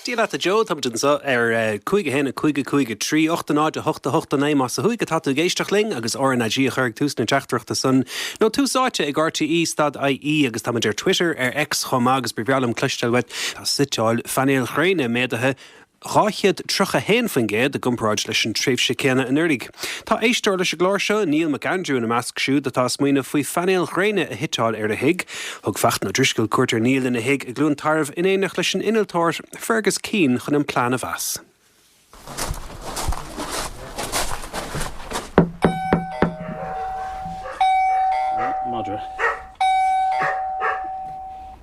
Dia leat a Joe, táimid anseo ar cúig a haon, a cúig, a cúig, a trí, ocht, a náid, a hocht, a hocht, a naoi, más ar WhatsApp atá tú ag éisteacht linn, agus RnaG a chuir ag tús na teachtaireachta san, nó tús áite ag rte stad ie, agus táimid ar Twitter, ar X chomh maith, agus ba bhreá liom cloisteáil uait, tá suiteáil phainéil ghréine méadaithe, 231% i gcomparáid leis an tréimhse céanna anuraidh. Tá éisteoir leis an gclár seo, Neil Mac Andrew, ina measc siúd atá ag smaoineamh faoi phainéil ghréine a shuiteáil ar a thigh. Thug Fachtna Ó Drisceoil cuairt ar Neil ina thigh i gCluain Tarbh in éineacht leis an innealtóir Fergus Keane chun an plean a mheas.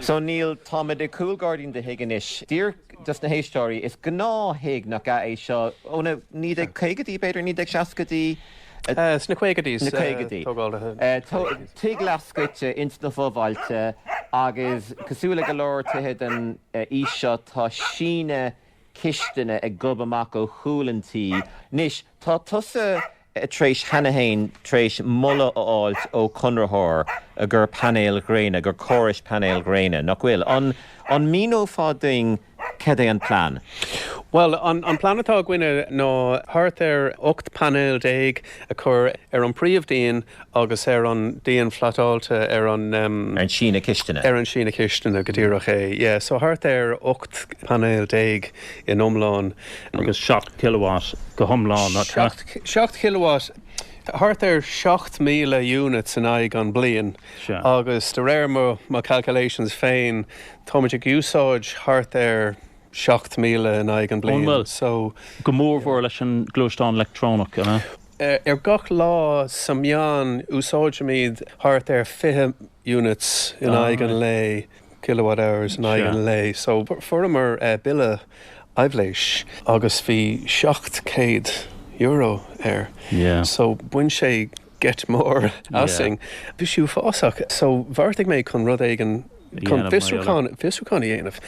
So Neil, táimid i gcúlghairdín do thigh anois. Déarfad leis na héisteoirí, is gnáth-thigh nach ea é seo, ó na 1950idí, b'fhéidir, 1960idí, Sna caogaidí is tógáil a thug tigh leathscoite ins na fo-bhailte agus cosúil le go leor tithe den aois seo tá síneadh cistine ag gobadh amach ó chúl an tí. Anois, tá tusa tar éis cheana féin, tar éis moladh a fháilt ó Chonraitheoir, i gcomhair painéil ghréine, i gcomhair córas painéil ghréine, nach bhfuil? An míneofá duinn cad é an plean? Bhuel, an plean atá againne ná thart ar 18 painéil a chur ar an príomh díon agus ar an díon phlotáilte ar an. Ar an síneadh cistine? Ar an síneadh cistine, go díreach é, yeah. So thart ar 18 painéil. in iomlán. agus 7 kW go hiomlán acu. 7 kW, thart ar 7,000 units in aghaidh an bliain agus de réir mo calculations féin táimid ag úsáid thart ar 7,000 in aghaidh an bliain so go mór mhór leis an gluaisteán leictreonach an ea? ar gach lá sa meán úsáidimid thart ar 20 units in aghaidh an lae. kilowatt hours in aghaidh an lae so fuaireamar bille aibhléis agus bhí seacht céad euro air so bhain sé geit mór asainn. Bhí sí uafásach so bheartaigh mé chun rud éigin, chun fiosrúchán a dhéanamh,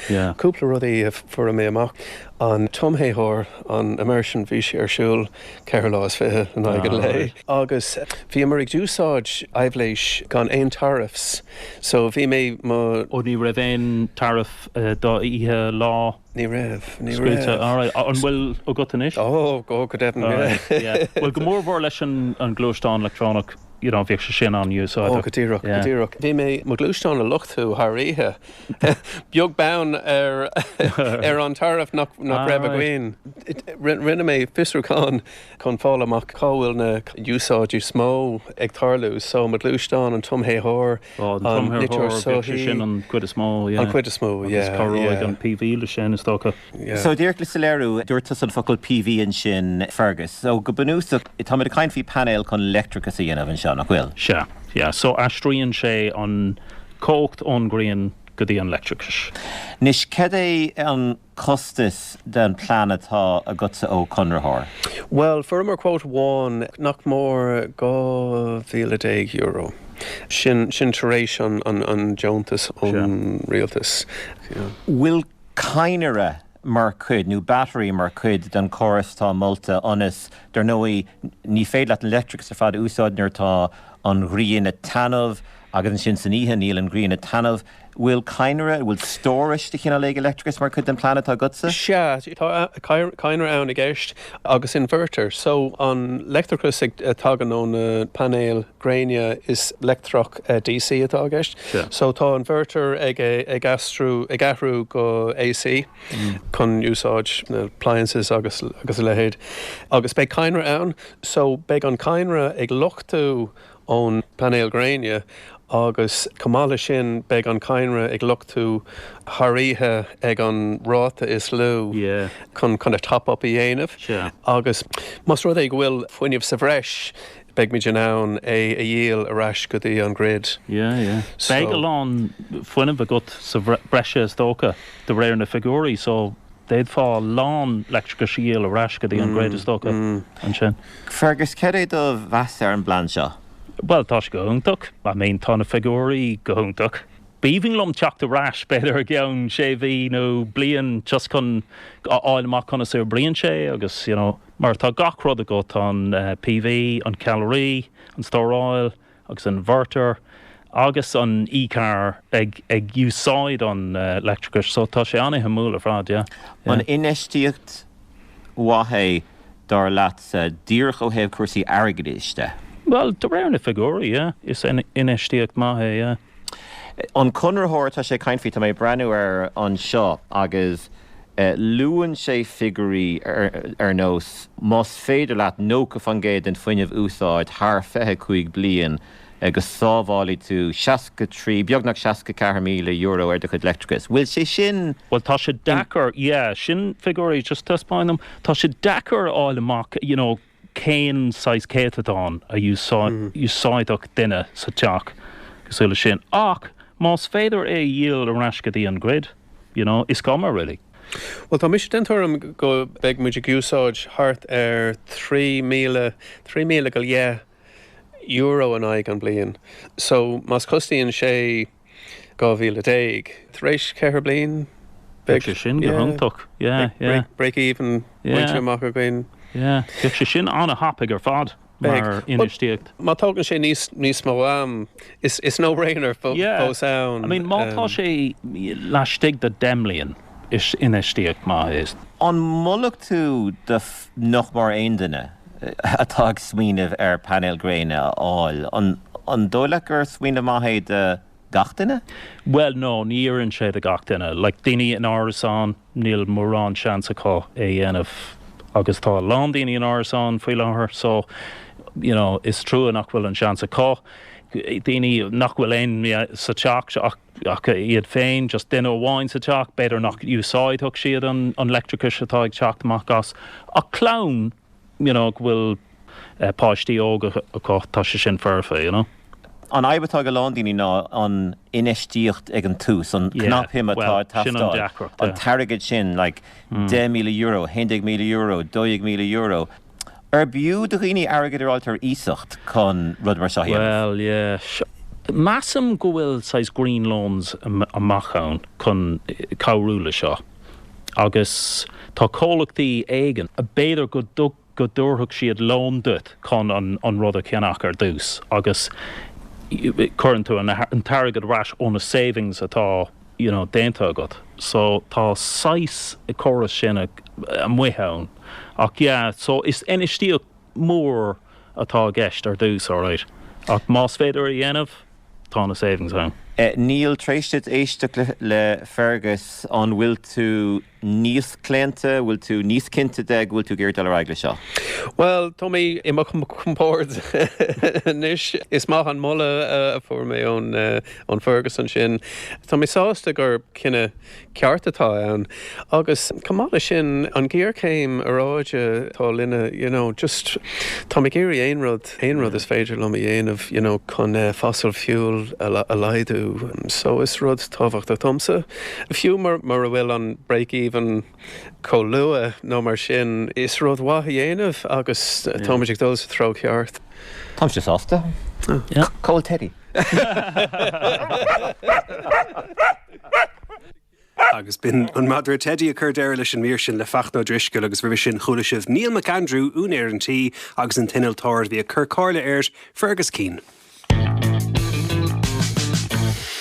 cúpla rud a fuair mé amach, an tumthéitheoir, an immersion, bhí sé ar siúl, ceithre uair is fiche in aghaidh an lae agus bhíomar ag úsáid aibhléis gan aon taraifs so bhí mé mo. oh ní raibh aon taraif do oíche, lá. ní raibh ní raibh. scaoilte alright an bhfuil agat anois? oh go deimhin yeah. bhuel go mór mhór leis an an gluaisteán leictreonach. you know bhíodh sé sin á úsáid. Ó, go díreach, go díreach. Bhí mé mo ghluaisteán a luchtú thar oíche, beag beann ar ar an taraif nach raibh againn. Rinne mé fiosrúchán chun fáil amach cá bhfuil na úsáidí is mó ag tarlú so, mo ghluaisteán, an tumthéitheoir, an niteoir soithí, an chuid is mó, yeah, agus cabhróidh an PV leis sin is dócha. So, d'éirigh liom sa léiriú, dúirt tusa an focal PV ansin, Fergus. So, go bunúsach, táimid ag caint faoi painéal chun leictreachas a dhéanamh anseo, nach bhfuil? Sea. Yeah. So, aistríonn sé an chumhacht ón ghrian go dtí an leictreachas. Anois, cad é an costas den plean atá agatsa ó chonraitheoir? Bhuel, fuaireamar quote amháin, nach mór dhá mhíle déag euro. Sin, sin tar éis an, an, an deontas ón rialtas. Bhfuil cadhnra mar chuid, nó battery mar chuid, den chóras atá molta ionas, dar ndóigh, ní féidir leat an leictreachas ar fad a úsáid nuair atá an ghrian ag taitneamh agus ansin san oíche níl an ghrian ag taitneamh. Bhfuil cadhnra, bhfuil stóras de chineál éigin leictreachais mar chuid den plean atá agatsa? Sea, tá cadhnra ann i gceist, agus inverter, so an leictreachas a thagann ó na painéil gréine is leictreachas, DC, atá i gceist. So tá an inverter ag aistriú, ag athrú go AC chun úsáid na appliances agus a leithéid. Agus beidh cadhnra ann so beidh an cadhnra ag luchtú ón bpainéal gréine agus chomh maith leis sin beidh an cadhnra ag luchtú thar oíche ag an ráta is lú chun kind of top-up a dhéanamh. Agus más rud é go bhfuil fuinneamh sa bhreis Beidh muid in ann é a dhíol ar ais go dtí an grid. Yeah, yeah. Beidh a lán fuinnimh agat sa bhreise is dócha, de réir na bhfigiúirí, so d'fhéadfá a lán leictreachais a dhíol ar ais go dtí an grid is dócha ansin. Fergus, céard é do mheas ar an bplean seo? Bhuel, tá sé go hiontach. I mean, tá na figiúirí go hiontach. B'aoibhinn liom teacht ar ais, b'fhéidir i gceann sé mhí nó bliain just chun a fháil amach conas a oibríonn sé agus, you know, Mar tá gach rud agat, an PV, an ceallraí, an stóráil agus an inverter, agus an e-car ag úsáid an leictreachais, so tá sé an-suimiúil ar fad, yeah. An infheistíocht mhaith é, dar leatsa, díreach ó thaobh cúrsaí airgeadais de? Bhuel, de réir na figiúirí, yeah, is infheistíocht maith é, yeah. An conraitheoir atá sé ag caint faoi, tá mé ag breathnú air anseo agus luann sé figiúirí ar nós, más féidir leat 90% den fuinneamh a úsáid thar 25 bliain go sábhálfaidh tú 63, beagnach €64,000 ar do chuid leictreachais. Bhfuil sé sin. Bhuel tá sé deacair, yeah, sin figiúirí, just taispeáin dom, tá sé deacair a fháil amach, you know, cén saghas céatadán a úsáidfeadh duine sa teach cosúil leis sin ach más féidir é a dhíol ar ais go dtí an grid, you know, is cuma really. Bhuel, tá mise den tuairim go mbeidh muid ag úsáid thart ar thrí míle, trí míle go leith euro in aghaidh na bliana so más costaíonn sé, dhá mhíle déag, tar éis ceithre bliain, Bheadh sé sin go hiontach, yeah, yeah. Break even bainte amach againn. Yeah, bheadh sé sin an-thapaidh ar fad mar infheistíocht. Má thógann sé níos mó am, is no brainer fós é. Yeah, I mean má tá sé laistigh de 10 mbliain. Is infheistíocht maith é. An molfadh tú do nach mór aon duine atá ag smaoineamh ar painéal gréine a fháil? An dóigh leat gur smaoineamh maith é do gach duine? Bhuel, no, ní oireann sé do gach duine. Like, daoine in árasán, níl mórán seans acu é dhéanamh agus tá a lán daoine in árasán faoi láthair so, you know, is trua nach bhfuil an seans acu. Daoine nach bhfuil aoinne sa teach ach. ach iad féin, just duine amháin sa teach, b'fhéidir nach n-úsáidfeadh siad an leictreachais atá ag teacht amach as, ach clann you know go bhfuil páistí óga acu, tá sé sin foirfe you know. An fhadhb atá ag a lán daoine ná an infheistíocht ag an tús, an cnapshuim atá ag teastáil, an t-airgead sin like €10,000, €11,000, €12,000, Ar b'fhiú do dhaoine airgead a fháilt ar iasacht chun rud mar seo a dhéanamh? Bhuel, yeah. Measaim go bhfuil saghas green loans amuigh ann chun cabhrú le seo agus tá comhlachtaí éigin, b'fhéidir go dtabharfadh siad lón duit chun an rud a cheannach ar dtús agus cuireann tú an t-airgead ar ais ó na savings atá you know, déanta agat so tá saghas córas sin amuigh ann ach yeah so is infheistíocht mhór atá i gceist ar dtús alright ach más féidir a dhéanamh tá na savings ann. Niall, tar éis duit éisteacht le Fergus, an bhfuil tú níos claonta? Bhfuil tú níos cinnte de go bhfuil tú ag iarraidh dul ar aghaidh leis seo? Bhuel, tá mé i mo chompord anois. Is maith an moladh a fuair mé ó Fergus ansin. Tá mé sásta gur cinneadh ceart atá ann. Agus chomh maith leis sin, an ghéarchéim aeráide atá linn, you know, just, táim ag iarraidh aon rud, aon rud is féidir liom a dhéanamh you know chun fossil fuel a laghdú so is rud tábhachtach domsa fiú mura bhfuil an break even chomh luath nó mar sin is rud mhaith a dhéanamh agus táimid ag dul sa treo ceart. Agus b'in an madra Teidí a chuir deireadh leis an mír sin le Fachtna Ó Drisceoil agus roimhe sin chuala sibh Neil McAndrew, úinéir an tí, agus an t-innealtóir a bhí ag cur comhairle air, Fergus Keane.